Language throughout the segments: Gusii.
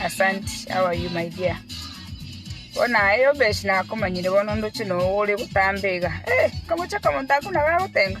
Asante, how are you my dear? Bono aye obese nakomanyire bono ndoche noyo ore gotamba iga. Eh, nkamochie akamonto ako nabo agotenga.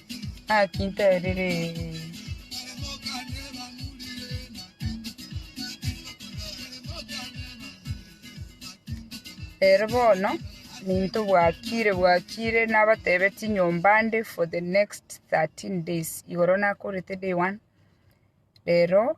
Naki nterire, Ere bono ninto bwakire bwakire nabatebetie nyomba nde for the next 13 days igoro nakorete day one rero.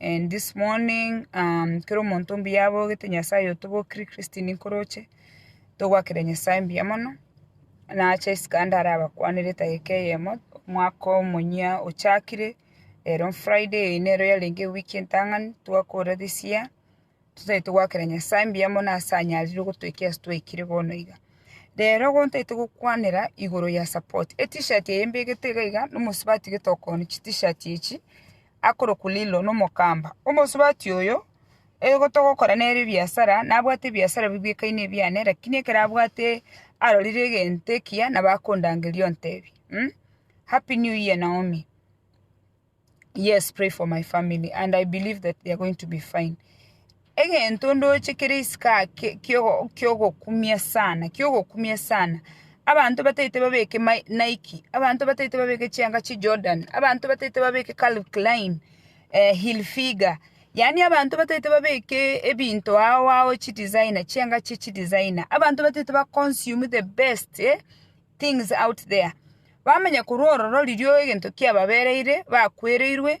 And this morning um, kero omonto mbuya abogete Nyasaye otobokire Christine Nkoroche togwakera Nyasaye mbuya mono nacha isiko ande ara abakwanere etageka eyemo omwaka omonyia ochakire ero Friday eye nero yarenge ewiki entang'ani twakora this year totaete togwakera Nyasaye mbuya mono ase anyarire gotoikera ase twaikire bono iga rero gontaete gokwanera igoro ya support etishat eye mbegete iga iga nomosubati getokoni chitishat echi akorokwa Lilo nomokamba, omosubati oyo, oyo togokora nere ebiasara, nabwate ebiasara bibwekaine ebiane, lakini ekero abwate arorire egento ekiya nabo akondangeria ontebi mh happy new year Naomi, yes pray for my family and I believe that they are going to be fine. Egento ndoche kere isiko ake ki'ogokumia sana, ki'ogokumia sana. Abanto bataete babeke Nike, abanto bataete babeke chianga chi Jordan, abanto bataete babeke Calvin Klein, Hilfiger, yaani abanto bataete babeke ebinto ao ao chi designer, chianga chie chi designer. Abanto bataete ba consume the best things out there. Bamanya korwa ororo riria egento kiababereire, bakwereirwe,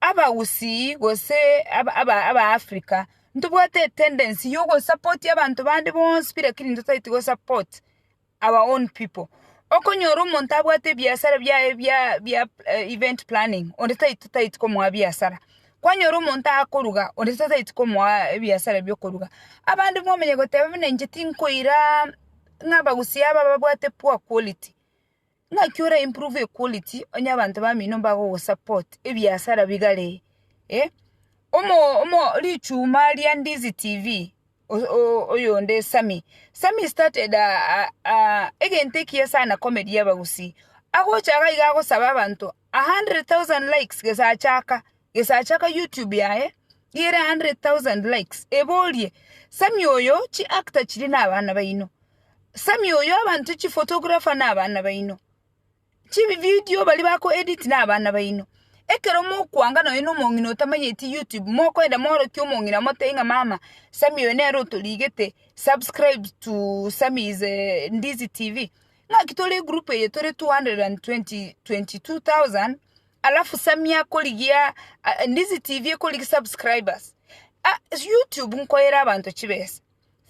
Abagusii gose Abafrika ntobwate etendency ya ogosapotia abanto bande bonsi pi lakini ntotaeti gosupport our own people. Okonyora omonto abwate ebiasara biaye bia bia event planning onde tai totaeti komoa biasara, kwanyora omonto akoruga onde totaeti komoa ebiasara bia okoruga. Abande mwamanya goteba buna inche tinkoiraa ng'a abagusii aba babwate poor quality. naki ora improve equality onye abanto bamino mbagogosupport ebiasara bigare eh, omo omo richuma ria Ndizi TV o- o- oyonde Sammy, Sammy started a- a- a- egento ekiya sana komeria abagusii, agocha iga iga agosaba abanto a hundred thousand likes gesa achaka. gesacha ka YouTube yaye gere 100,000 likes eborie Sammy oyo chi actor chiri na abana baino Sammy oyo abanto chi photographer na abana baino chi video bari bako edit na abana baino ekero mokwanga nonya na omong'ina otamanyeti YouTube mokoenda morokia omong'ina motebi ng'a mama Sammy oyo nere otorigete subscribe to Sammy is a ndizi TV ng'aki tore egroup eye tore 222,000 alafu samia akorigia ah, ndizi tv ekorigi subscribers ah, youtube nkoyera abanto chibesa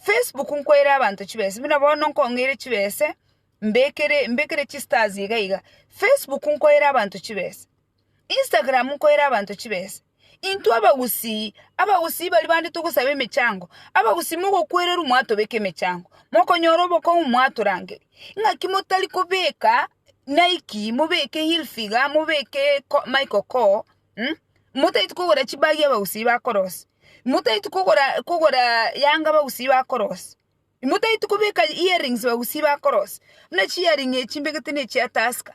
facebook nkoyera abanto chibesa buna bono nkong'eire chibesa mbekere mbekere chistars iga iga facebook nkoyera abanto chibesa instagram nkoyera abanto chibesa Intwe abagusii, abagusii baria bande togosaba emechango, abagusii mogokwererwa mwatobeka emechango, mokonyora obokong'u mwatorangeria. Ng'aki motari kobeka Nike, mobeke Hilfiger, mobeke Ko- Michael Kors, mm, motaeti kogora chibagi abagusii bakorosia, motaeti kogora kogora yanga abagusii bakorosia, motaeti kobeka earrings abagusii bakorosia, buna chiearring echi mbegete ne chia Tusker.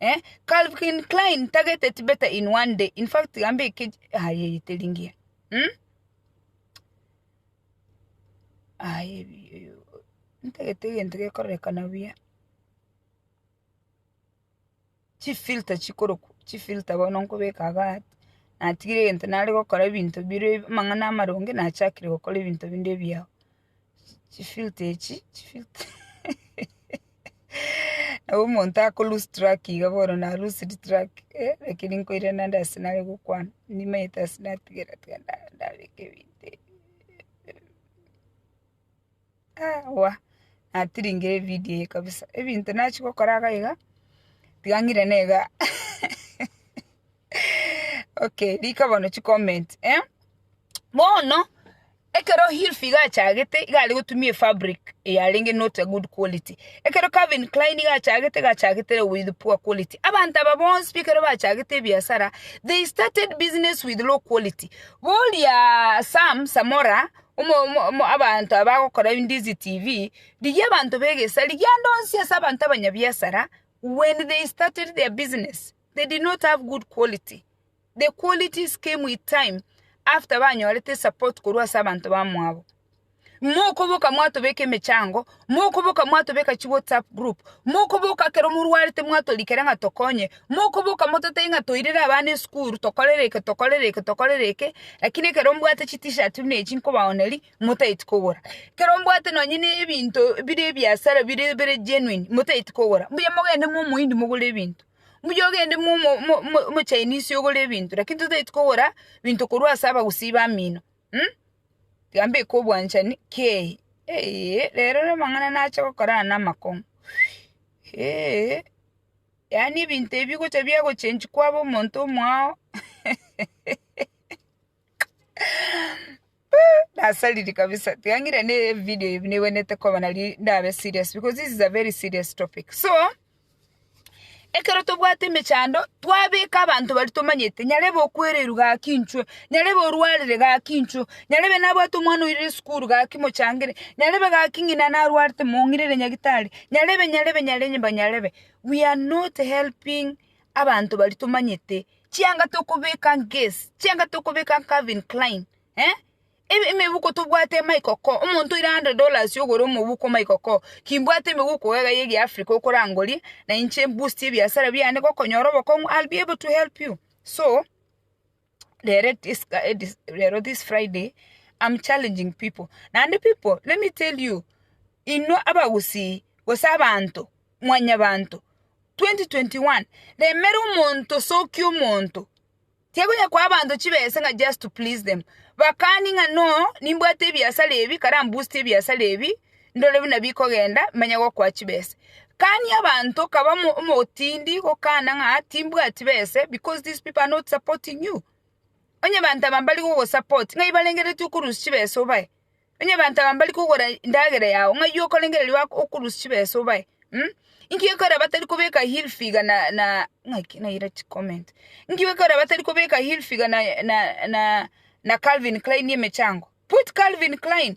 Eh, Calvin Klein target it better in one day. In fact, gambe ike aye itelingia. Hmm? Aye ntagete egento gekorekana buya. Chi filter chikoroku, chi filter bono nkobeka aga natigire egento nare gokora ebinto bire amang'ana amaronge nachakire gokora ebinto binde ebiao. chifilter echi chifilter nabo omonto ako lose track iga bono na loosed track eh lakini nkoirana nde ase nare gokwana nimanyete ase natigera tiga nda- ndabeka ebinto ebi awa natiringire evidio eye kabisa ebinto nachia gokora iga iga tiga ng'irane iga. Okay, rika bono chicomment eh? Bono ekero Hilfi gachagete iga are gotumia efabric eyarenge not a good quality ekero Calvin Klein gachagete gachagete with poor quality abanto aba bonsi ekero bachagete ebiasara they started business with low quality boria Sam Samora omo omo omo abanto aba bagokora Ndizi TV rigia abanto ba egesari rigia ande onsi ase abanto abanyabiasara when they started their business They did not have good quality. The qualities came with time after banyorete support korwa ase abanto bamwabo. Mokoboka mwatobeka emechango, mokoboka mwatobeka chi WhatsApp group, mokoboka kero morwarete mwatorikera ng'a tokonye, mokoboka mototebi ng'a toirere abana esukuru, tokorere eke, tokorere eke, tokorere eke, lakini ekero mbwate chi t-shirt buna echi nkobaoneria, motageti kogora. Ekero mbwate nonye ne ebinto bire ebiasara bire bire genuine, motageti kogora. Mbuya mogende momoindi mogore ebinto. mbuya ogende mo mo mo mo mochainisi ogore ebinto lakini totaeti kogora binto korwa ase abagusii bamino mh, tiga mbeke obwanchani kei eeiee rero na amang'ana nache gokora aya na amakong'u eeiee yaani ebinto ebi gocha biagochengi kwaba omonto omwao. Nasariri kabisa. Tiangira ne video hivi niwe nete kwa banali ndabe serious because this is a very serious topic. So, ekero tobwate emechando twabeka abantu bari tomanyete nyarebe okwereru gaki inchwe nyarebe orwarire gaki inchwe nyarebe nabwate omwana oirire esukuru gaki mochangere nyarebe gaki ng'ina narwarete mong'irere nyagitari nyarebe nyarebe nyarebe nyarebe we are not helping abanto baria tomanyete, chianga tokobeka Guess, chianga tokobeka Calvin Klein, eh, ebe- emebuko tobwate Michael Kors, omonto oire hundred dollars ogore omobuko Michael Kors, kimbwate emebuko iga ya egiafrika okorangoria, na inche mboost ebiasara biane gokonyora obokong'u, I'll be able to help you, so. rere this eh, this, rero this friday i'm challenging people naende people let me tell you inwe abagusii gose abanto mwanyabanto 2021 remera omonto sokia omonto tiakonya kwa abanto chibesa ng'a just to please them bakani ng'a no nimbwate ebiasara ebi karambusti ebiasara ebi ndore buna bikogenda, manya gokoa chibese. Kani abanto kaba omotindi gokana ng'a timbwati bese because these people are not supporting you. Onye abanto aba mbari gogosupport ng'ai barengeretie okorusia chibesa obae? Onye abanto aba mbari kogora endagera yao ng'ai okorengererio okorusia chibesa obae? Inki gekorera batari kobeka hill figure na na ng'aki naira chicomment. Inki gekorera batari kobeka hill figure na na na Calvin Klein emechango? Put Calvin Klein.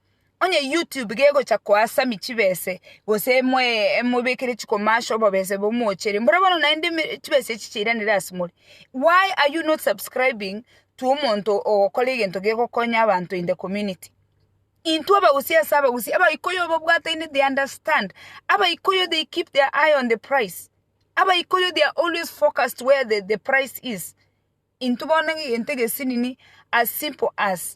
Onye YouTube gegocha koasami chibese gose mwe mobekere chikomasho obobese bomoochere mbora bono naende chibese echi chiranire ase more why are you not subscribing to omonto ogokora egento gegokonya abanto in the community. Intwe abagusii ase abagusii abaikoyo obabwataine they understand abaikoyo they keep their eye on the price abaikoyo they are always focused where the price is intwe bono egento egesinini as simple as.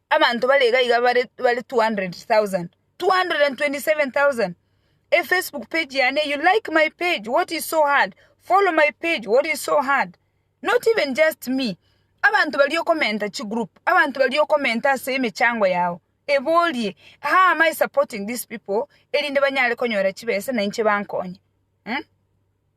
Abanto bare iga iga bare bare 200,000. 227,000. E Facebook page yane, you like my page, what is so hard? Follow my page, what is so hard? Not even just me. Abanto bari okomenta chi group, abanto bari okomenta ase emechango yao. Eborie, how am I supporting these people erinde banyare konyora chibesa na inche bankonye? Em?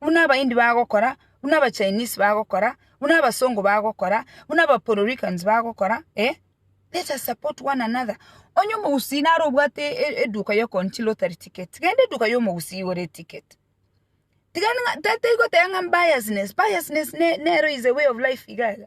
buna Abaindi bagokora, buna Abachinese bagokora, buna Abasongo bagokora, buna Abapuerto Ricans bagokora, eh, let us support one another. Onye omogusii naro obwate e- e- eduka yokoonchia lottery ticket, genda eduka ya omogusii igore eticket. Tiga ng'a ta- taigoteba ng'a biasness, biasness ne- nero is a way of life iga iga.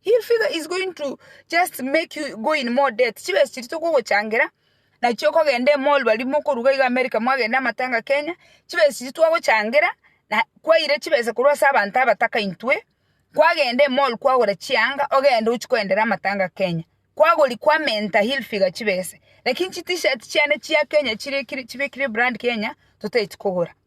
Hii figure is going to just make you go in more debt. Chibesa chiri tokogochangera nachio okogenda emall bari mokoruga iga America mwagenda amatanga Kenya chibesa chiri twagochangera na kwaire chibesa korwa ase abanto abataka intwe kwagenda emall kwagora chianga ogende ochi koendera amatanga Kenya kwagori kwa menta hii figure chibesa lakini chi t-shirt chiane chia Kenya chire chibekire brand Kenya totaeti kogora.